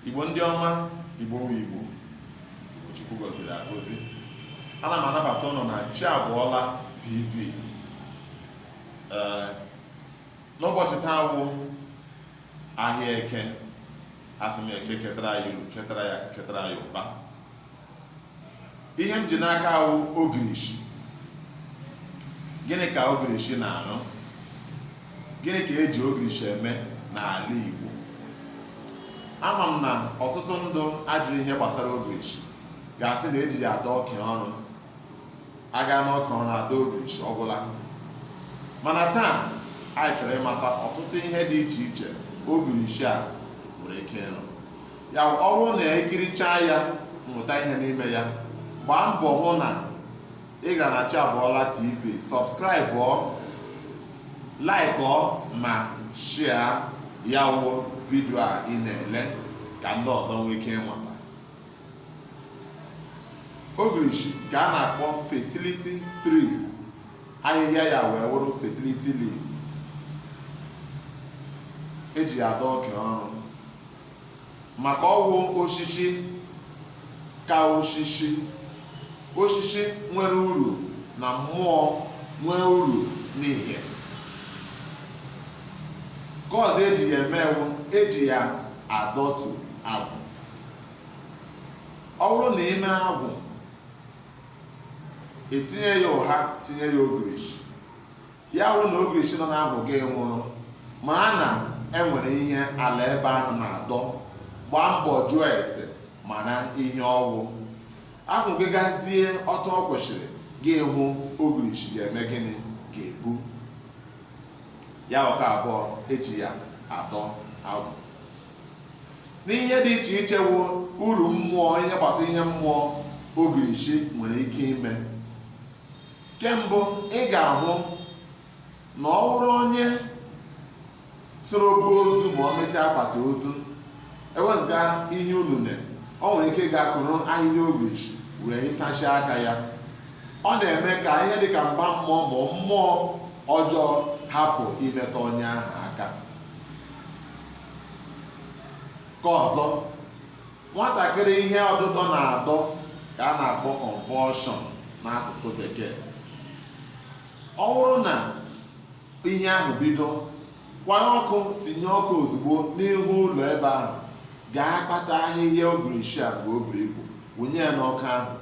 Igbo ndị ọma Igbo wu Igbo Chukwu gọziri agọzi ana m anabata ụnụ na chi abụọla tv ee n'ụbọchị taa wụ ahịa eke asị m eke ketara ya iru ketara ya ketara ya ụba ihe m ji n'aka wụ ogirishi gịnị ka ogirishi na-arụ gịnị ka eji ogirishi eme n'ala Igbo ama m na ọtụtụ ndị ajụrụ ihe gbasara ogirishi ga-asị na eji ya adọ oke ọrụ aga n'oke ọrụ adọ ogirishi ọgwụla mana taa anyị chọrọ ịmata ọtụtụ ihe dị iche iche ogirishi a nwere ike ịrụ ya ọ bụrụ na ikirichaa ya mụta ihe n'ime ya gbaa mbọ hụ na ị ga na Chi Abụọla TV sọbskraịbụọ laikụọ ma shia ya wụ vidio a ị na-ele ka ndị ọzọ nwee ike inweta ogirishi ka a na-akpọ fertility tree ahịhịa ya wee wụrụ fertility leaf eji ya adọ oke ọrụ maka ọwụ osisi ka osisi osisi nwere uru na mmụọ nwee uru n'ihe ke ọzọ eji ya eme wụ eji ya adọtu agwụ ọ wụrụ na ime agwụ etinye ya ụha tinye ya ogirishi ya wụ na ogirishi nọ n'agwụ gị nwụrụ mara na enwere ihe ala ebe ahụ na-adọ gbaa mbọ jụọ ese mara ihe ọwụ agwụ gị gazie ọtụ ọ kwesịrị gị hụ ogirishi ga-eme gịnị ga-ebu ya wụ ke abụọ eji ya adọ agwụ n'ihe dị iche iche wụ uru mmụọ ihe gbasara ihe mmụọ ogirishi nwere ike ime ke mbụ ị ga-ahụ na ọ bụrụ onye soro buo ozu ma o meta akpati ozu ewezụga ihe niine ọ nwere ike ịga kụrụ ahịhịa ogirishi wee hisacha aka ya ọ na-eme ka ihe dịka mgba mmụọ ma mmụọ ọjọọ hapụ imetụ onye ahụ aka ke ọzọ nwatakịrị ihe ọdụdọ na-adọ ka a na-akpọ convulsion n'asụsụ bekee ọ wụrụ na ihe ahụ bido kwanye ọkụ tinye ọkụ ozugbo n'ihu ụlọ ebe ahụ gaa kpata ahịhịa ogirishi a ka o buru ibu wụnye ya n'ọkụ ahụ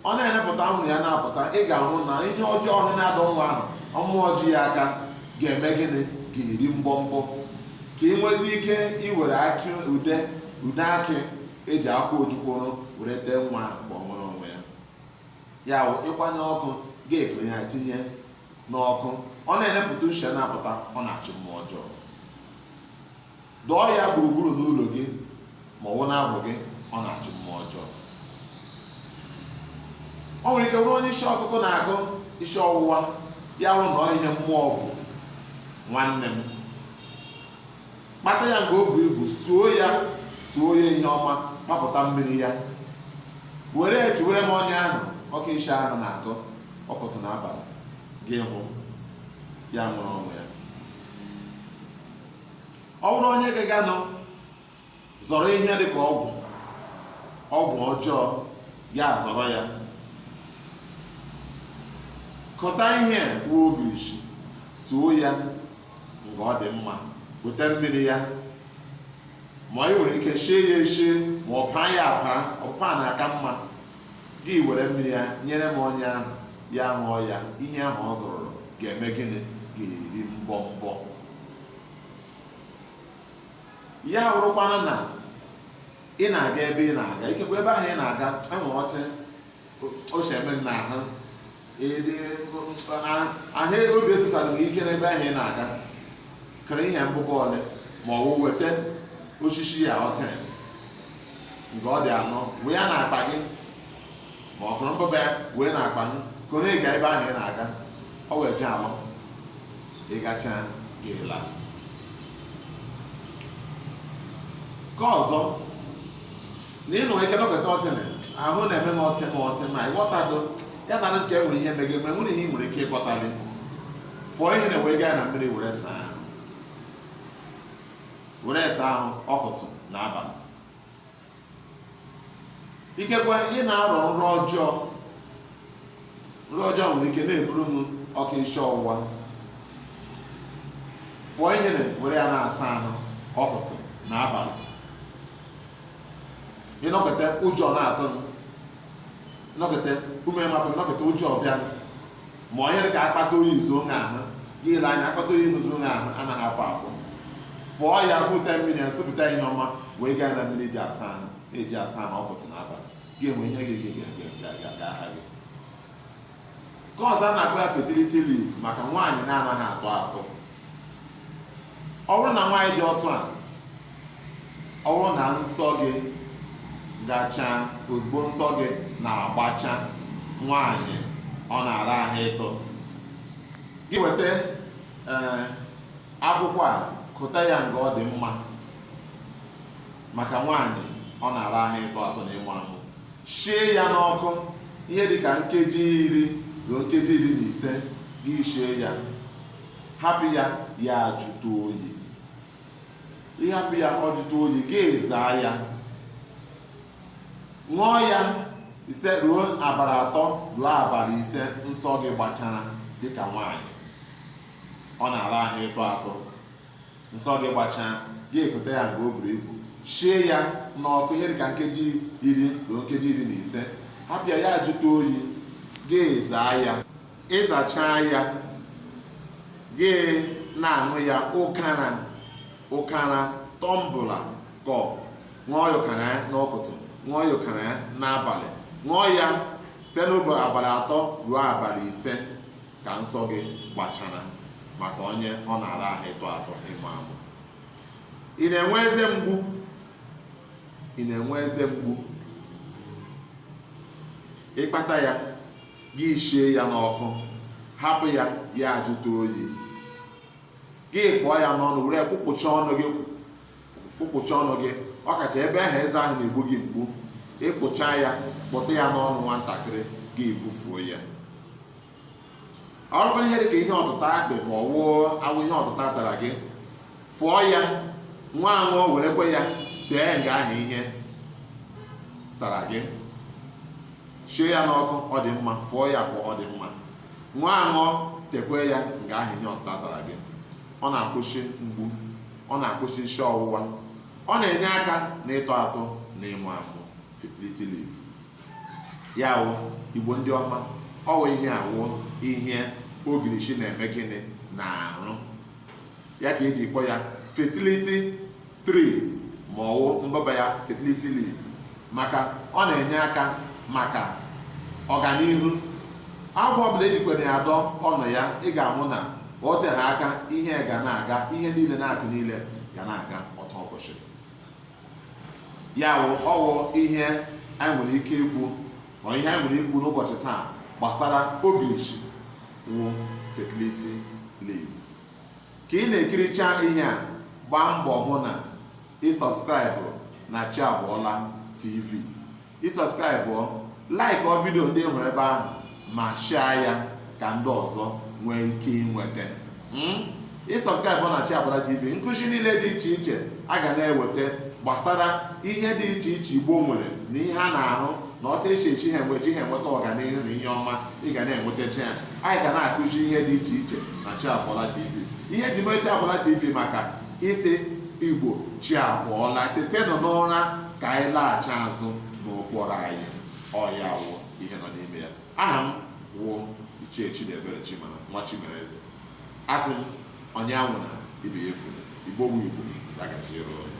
ọ na-enepụta anwụrụ ya na-apụta ị ga-ahụ na ihe ọjọọ ahụ na-adọ nwa ahụ mmụọ ji ya aka ga-eme gịnị ga-eri mbọmbọ ka ị nwezi ike iwere akị ude akị e ji akwụ ojukwu rụọ were tee nwa ahụ mgbe o nwere onwe ya ya wụ ị kwanye ọkụ ga-ekere ya tinye n'ọkụ ọ na-enepụta ushi ya na-apụta ọ na-achụ mmụọ ọjọọ Dọọ ya gburugburu n'ụlọ gị ma ọ wụ na-abụ gị ọ na-achụ mmụọ ọjọọ o nwere ike bụrụ onye isi ọkụkụ na-akụ isi ọwụwa ya wụ na ihe mmụọ bụ nwanne m kpata ya nga o bu ibu suo ya suo ya ihe ọma kpapụta mmiri ya were etewere m onye ahụ oke isi ahụ na-akụ ụtụtụ n'abalị gị ahụ ya nwere onwe ya ọ bụrụ onye gaganụ zọrọ ihe dị ka ọgwụ ọjọọ ya zọrọ ya kọta ihe wụ ogirisi suo ya nga ọ dị mma weta mmiri ya ma i nwere ike shie ya eshie ma ọ paa ya apa ọpụpa na-aka mma gị were mmiri ya nyere m onye ahụ ya ṅụọ ya ihe ahụ ọ zọrọ ga-eme gịnị ga-eri mbọmbọ ya wụrụkwana na ị na-aga ebe ị na-aga ikekwa ebe ahụ ị na-aga enwe ọtị o si eme na ahụ ahụ obi esisara gị ike n'ebe ahụ ị na-aga kere ihe mbụba ole ma ọ wụ weta osisi ya ọtị nga ọ dị anọ wee ya na akpa gị ma ọ kụrụ mbụba ya wee na akpa gị kụrụ gaa ebe ahụ ị na-aga ọ wụ eje alọ ị gacha gị ala nke ọzọ na i nwe ike nọkịta ọtịnị ahụ na-eme m ọtị m ọtị ma ịghọtado ya na nke nwere ihe megị ma enwere ihe i nwere ike ịkọtali fụọ ihe na wee gaa na mmiri were saa ahụ were saa ahụ ụtụtụ na abalị ikekwa ị na-arọ nrọ ọjọọ nrọ ọjọọ nwere ike na-eburu m oke isi ọwụwa fụọ ihe na were ya na-asa ahụ ụtụtụ na abalị ị nọkịta ụjọ na-atụ m nọkịta ume amapụ nọkịta ụjọ abịa ma onye dị ka akpata oyi ezuo onye ahụ gị elee anya akpata oyi zuru onye ahụ anaghị apụ apụ fụọ ya fụta mmiri ya sụpụta ihe ọma wee gaa na mmiri e ji asa ahụ e ji asa ahụ ụtụtụ n'abalị gị enwe ihe ga-aha gị nke ọzọ a na-akpọ ya fertility leaf maka nwaanyị na-anaghị atụ atụ ọ bụrụ na nwaanyị dị otu a ọ bụrụ na nsọ gị gachaa ozugbo nsọ gị na-agbacha nwaanyị ọ na-ara ahụ ịtụ gị weta eh, akwụkwọ a kụta ya nga ọ dị mma maka nwaanyị ọ na-ara ahụ ịtụ atụ na ịmụ amụ shie ya n'ọkụ ihe dị ka nkeji iri ruo nkeji iri na ise gị shie ya hapụ ya ya ajụta oyi ịhapụ ya ọ jụta oyi gị ezaa ya ṅụọ ya ise ruo abalị atọ ruo abalị ise nsọ gị gbachara dịka nwaanyị ọ na-ara ahụ ịtụ atụ nsọ gị gbachaa gị ekụta ya nke o buru ibu shie ya n'ọkụ ihe dịka nkeji iri ruo nkeji iri na ise hapụ ya ya ajụta oyi gị ezaa ya ịzachaa ya gị na-aṅụ ya ọkara ọkara tumbler cup ṅụọ ya ọkara ya n'ụtụtụ ṅụọ ya ọkara ya n'abalị ṅụọ ya site n'ụbọchị abalị atọ ruo abalị ise ka nsọ gị gbachara maka onye ọ na-ara ahụ ịtụ atụ ịmụ amụ ị na-enwe eze mgbu ị na-enwe eze mgbu ịkpata ya Gị shie ya n'ọkụ, hapụ ya ya ajụta oyi. Gị kpụọ ya n'ọnụ were kpụkpụcha ọnụ gị kpụkpụcha ọnụ gị ọkacha ebe ahụ eze ahụ na-egbu gị mgbu ịkpụcha ya kpụtụ ya n'ọnụ nwantakịrị gị ebufuo ya ọ bụrụ ihe dị ka ihe ọtụta akpị ma ọ wụ aṅụ ihe ọtụta tara gị fịọ ya ṅụọ aṅụ werekwe ya tee nga ahụ ihe tara gị shie ya n'ọkụ ọ dị mma fịọ ya afị ọ dị mma ṅụọ aṅụ tekwe ya nga ahụ ihe ọtụta tara gị ọ na-akwụsị mgbu ọ na-akwụsị isi ọwụwa ọ na-enye aka na ịtụ atụ na ịmụ amụ fertility leaf ya wụ igbo ndị ọma ọ wụ ihe a wụ ihe ogirishi na-eme gịnị na-arụ ya ka eji kpọ ya fertility tree ma ọ wụ mbaba ya fertility leaf maka ọ na-enye aka maka ọganihu agwa ọbụla ejikwere ya dọ ọnụ ya ị ga-ahụ na o teghị aka ihe ga na-aga ihe niile na-akụ niile ga na-aga otu ụbọchị ya wụ ọ wụ ihe anyị nwere ike ikwu Ọ ihe anyị nwere ikwu n'ụbọchị taa gbasara ogirishi wụ fertility leaf ka ị na-ekiricha ihe a gbaa mbọ hụ na ị subscribe na chi abọọla tv ị subscribe like ọ vidio ndị e nwere ebe ahụ ma share ya ka ndị ọzọ nwee ike inweta hmm? ị subscribe na Chi Abọọla TV nkụzi niile dị iche iche a ga na-eweta gbasara ihe dị iche iche Igbo nwere na ihe a na-arụ na otu e si esi ha eji ha enweta ọganihu na ihe ọma ị ga na-enwetacha ya anyị ga na-akụzi ihe dị iche iche na Chi Abọọla TV ihe e ji mee Chi Abọọla TV maka ịsị Igbo chi abọọla tetenụ n'ụra ka anyị laghachi azụ n'ụkpụrụ anyị ọ ya wụ ihe nọ n'ime ya Aha m wụ Ichie Chidiebere Chimana nwa Chimereze. Asị m onye anwụna ibe ya efula, Igbo wu Igbo, ya gaziere unu.